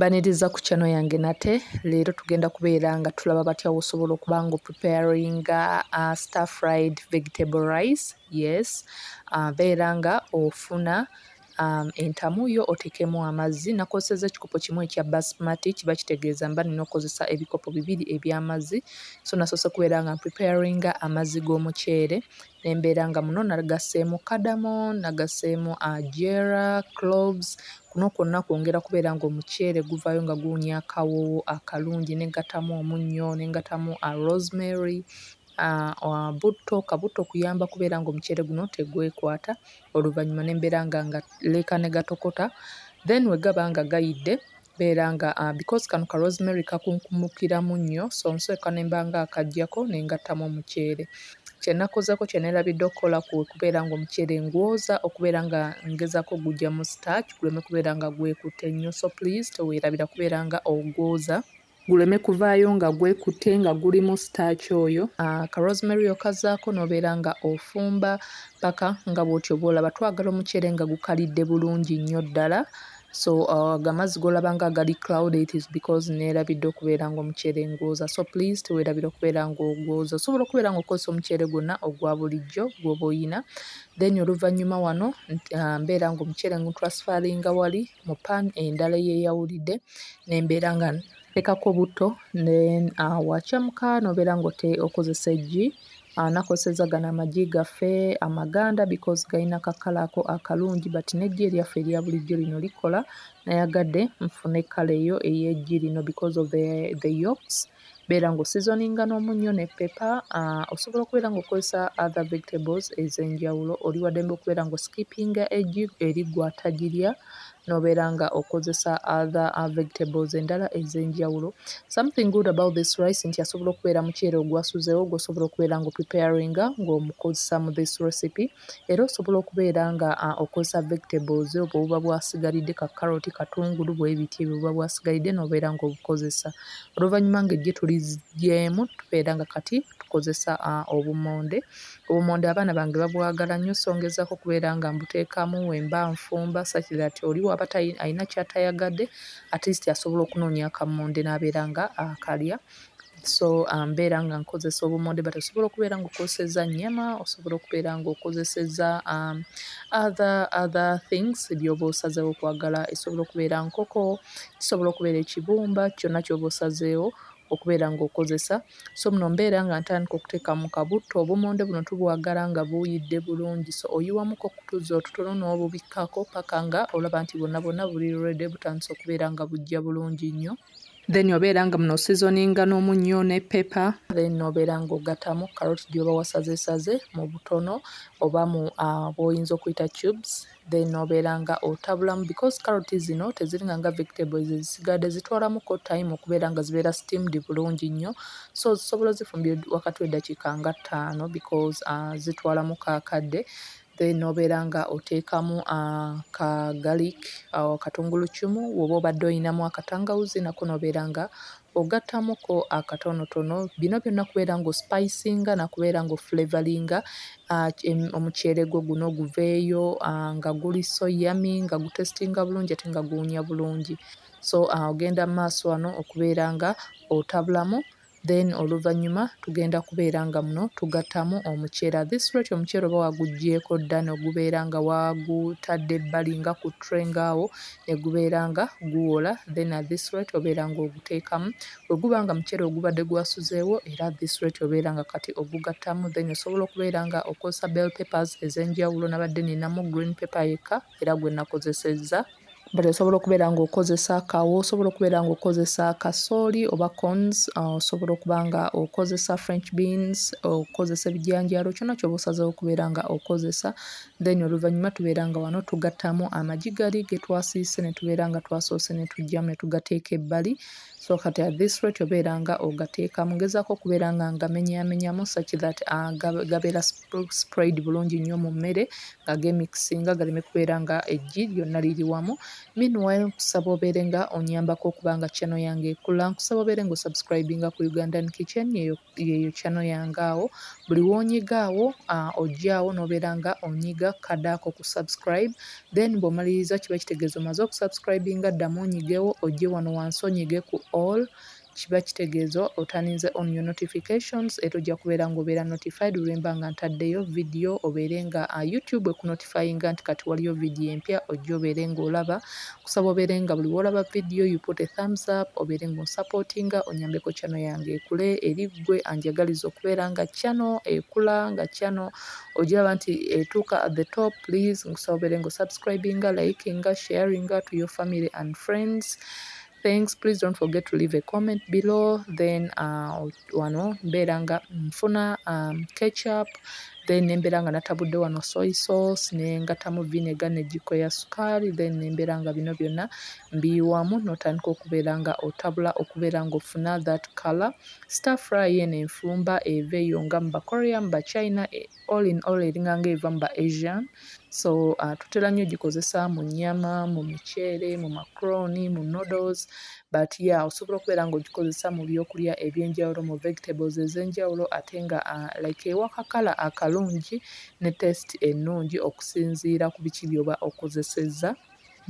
Baniriza ku channel yange nate leero tugenda kubeera nga tulaba batya wosobola okuba nga preparing uh, star fried vegetable rice yes uh, beera nga ofuna um, entamu yo otekemu amazzi nakozeseza ekikopo kimu ekya basmati kiba kitegeeza mba nina okozesa ebikopo bibiri ebyamazzi so nasose kubeera nga preparing amazzi g'omuceere ne mbeera nga muno nagasseemu kadamo, nagasseemu ajera, cloves, kuno kwonna kwongera kubeera ng'omuceere guvaayo nga guwunya akawoowo akalungi ne nggatamu omunnyo ne nggatamu rosemary, butto, ka butto kuyamba kubeera ng'omuceere guno tegwekwata oluvannyuma ne mbeera nga ngaleeka ne gatokota then bwe gaba nga gayidde, Mbeera nga because kano ka rosemary kakunkumukiramu nnyo so nsooka ne mba nga akaggyako ne ngattamu omuceere. Kye nakozeeko kye neerabidde okukola kwe kubeera ng'omuceere ngwoza okubeera nga ngezaako okuguggyamu starch guleme kubeera nga gwekutte nnyo so please teweerabira kubeera nga ogwoza guleme kuvaayo nga gwekutte nga gulimu starch oyo. Ka rosemary okazaako n'obeera nga ofumba paka nga bw'otyo bw'olaba. Twagala omuceere nga gukalidde bulungi nnyo ddala so uh, gamazzi golaba nga gali cloud it is because nerabidde okubeera nga omuceere ngwoza so please tewerabira okubeera nga ogwoza osobola okubeera nga okozesa omuceere gwonna ogwa bulijjo gwoba oyina then oluvannyuma wano uh, mbeera nga omuceere ngutransfaringa wali mu pan endala eyeyawulidde nembeera nga tekako butto then uh, wakyamuka nobeera nga okozesa eggi anakoseza gano amagi gaffe amaganda because galina kakala ako akalungi but nejji eryaffe erya bulijjo lino likola nayagade nfune kala eyo eyejji lino because of the, the yolks beera nga osizoninga n'omunnyo ne pepa uh, osobola okubeera nga okozesa other vegetables ez'enjawulo oli wadembe okubeera nga oskipinga eggi eri gwatagirya nobeera nga okozesa other uh, vegetables endala ezenjawulo something good about this rice nti asobola okubeera muceere ogwasuzewo gwosobola okubeera nga opreparinga ngaomukozesa mu this recipe era osobola okubeera nga uh, okozesa vegetables obwo buba bwasigalidde ka carrot katungulu bwebiti ebyo buba bwasigalidde nobeera nga obukozesa oluvannyuma nga ejje tuligyemu tubeera nga kati tukozesa uh, obumonde Obumonde abaana bange babwagala nnyo so ngezaako okubeera nga mbuteekamu wemba nfumba such that oli waba alina kyatayagadde at least asobola okunoonya akammonde n'abeera nga akalya so um, mbeera nga nkozesa obumonde but osobola okubeera nga okozeseza nyama osobola okubeera nga okozeseza um, other other things byoba osazeewo okwagala esobola okubeera nkoko kisobola okubeera ekibumba kyonna kyoba osazeewo okubeera nga okozesa so muno mbeera nga ntandika okutekamu kabutto obumonde buno tubwagala nga buyidde bulungi so oyiwamuko okutuzi otutono n'obubikkako paka nga olaba nti bwonna bwonna buli rede butandise okubeera nga bujja bulungi nnyo then obeera nga muno seasoninga n'omunnyo ne pepper then obeera nga ogatamu carrot gyoba wasazesaze mu butono oba mu uh, bwoyinza okuyita cubes then obeera nga otabulamu because carrot zino teziringa nga vegetables ezisigadde zitwalamuko time okubeera nga zibeera steamed bulungi nnyo so zisobola ozifumbira wakati w'eddakiika nga ttaano because uh, zitwalamu kakadde then obeera nga oteekamu uh, ka garlic uh, katungulu kimu woba obadde olinamu akatangawuzi nako nobeera nga ogattamuko akatonotono bino byonna kubeera nga osipayisinga nakubeera nga ofuleveringa ah, omuceere gwo guno guveeyo ah, nga guli so yami nga gutesitinga bulungi ate nga guwunya bulungi so ah, ogenda mu maaso wano okubeera nga otabulamu then oluvannyuma tugenda kubeera nga muno tugattamu omuceera this rate omuceera oba wagugyeko dda nogubeera nga wagutadde ebbali nga ku tray ngaawo negubeera nga guwola then at this rate obeera nga oguteekamu bweguba nga muceere ogubadde gwasuzeewo era at this rate obeera nga kati ogugattamu then osobola okubeera nga okozesa bell papers ez'enjawulo nabadde ninamu green paper yekka era gwe nakozesezza but osobola okubeera nga okozesa kawo osobola okubeera nga okozesa kasooli oba cons uh, osobola okuba nga okozesa french beans okozesa ebijanjaalo kyona kyoba osazewo okubeera nga okozesa then oluvannyuma tubeera nga wano tugattamu amagi gali ge twasiise ne tubeera nga twasoose ne tujjamu ne tugateeka ebbali so kati at this rate obeera nga ogateeka mugezaako okubeera nga ngamenyamenyamu such that ah, gabeera sprayed bulungi nnyo mu mmere nga gemikisinga galeme kubeera nga eggi lyonna liri wamu meanwhile nkusaba obeere nga onyambako okuba nga channel yange ekula nkusaba obeere nga osubscribinga ku ugandan kitchen yeyo yeyo channel yange awo buli wonyiga awo uh, ojjaawo nobeera nga onyiga kada ako ku subscribe then bwomaliriza kiba kitegeeza omaze okusubscribinga ddamu onyigewo ojje wano wansi onyige ku all kiba kitegeeza otaninze on your notifications era ojja kubeera ngaobeera notified lwemba nga ntaddeyo vidiyo obeere nga uh, youtube ekunotifyinga nti kati waliyo vidiyo empya ojja obeere ngaolaba Kusaba obeere nga buli wolaba video you put a thumbs up obeere nga onsupportinga onyambeko channel yange ekule eri gwe anjagaliza okubeera nga channel ekula nga channel ojiraba nti etuuka at the top please nkusaba obeere nga osubscribinga likinga sharinga to your family and friends thanks please don't forget to leave a comment below then uh, wano mbeera nga nfuna um, catch up then nembeera nga natabudde wano soy sauce nengatamu vinegar ne jiko ya sukaali then nembeera nga bino byonna mbiyiwamu notandika okubeera nga otabula okubeera nga ofuna that color star fry eno enfumba eva eyo nga mu ba korean ba china eh, all in all eringa nga eva mu ba asian so uh, tutera nnyo gikozesa mu nyama mu miceere mu macroni mu noodles but ya yeah, osobola okubeera ng'ogikozesa mu byokulya ebyenjawulo mu vegetables ez'enjawulo ate nga uh, like ewakakala akalungi ne test ennungi okusinziira ku biki byoba okozesezza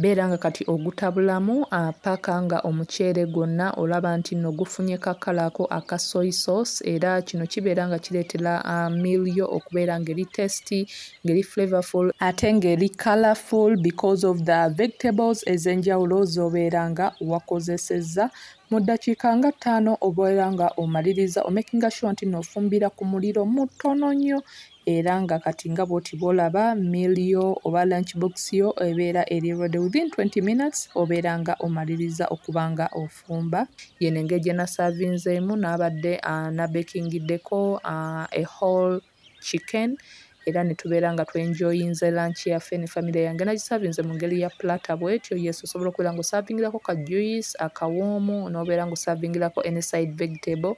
Beera nga kati ogutabulamu paka nga omuceere gwonna olaba nti no gufunye ka kala ako aka soy sauce era kino kibeera nga kireetera meal yo okubeera nga eri tasty nga eri flavorful ate nga eri colorful because of the vegetables ez'enjawulo z'obeera nga wakozesezza. Mu ddakiika nga ttaano obeera nga omaliriza omakinga sure nti no ofumbira ku muliro mutono nnyo era nga kati nga bwoti bwolaba meal yo oba lunch box yo ebeera eri ready within 20 minutes obeera nga omalirizza okuba nga ofumba. Yeno engeri gye nasavinzeemu nabadde nabekingiddeko a whole chicken era ne tubeera nga twenjoyinze lunch yaffe ne famire yange. Nagisavinze mu ngeri ya platter bwetyo, yes osobola okubeera nga osavingirako ka juice, akawoomu n'obeera nga osavingirako any side vegetable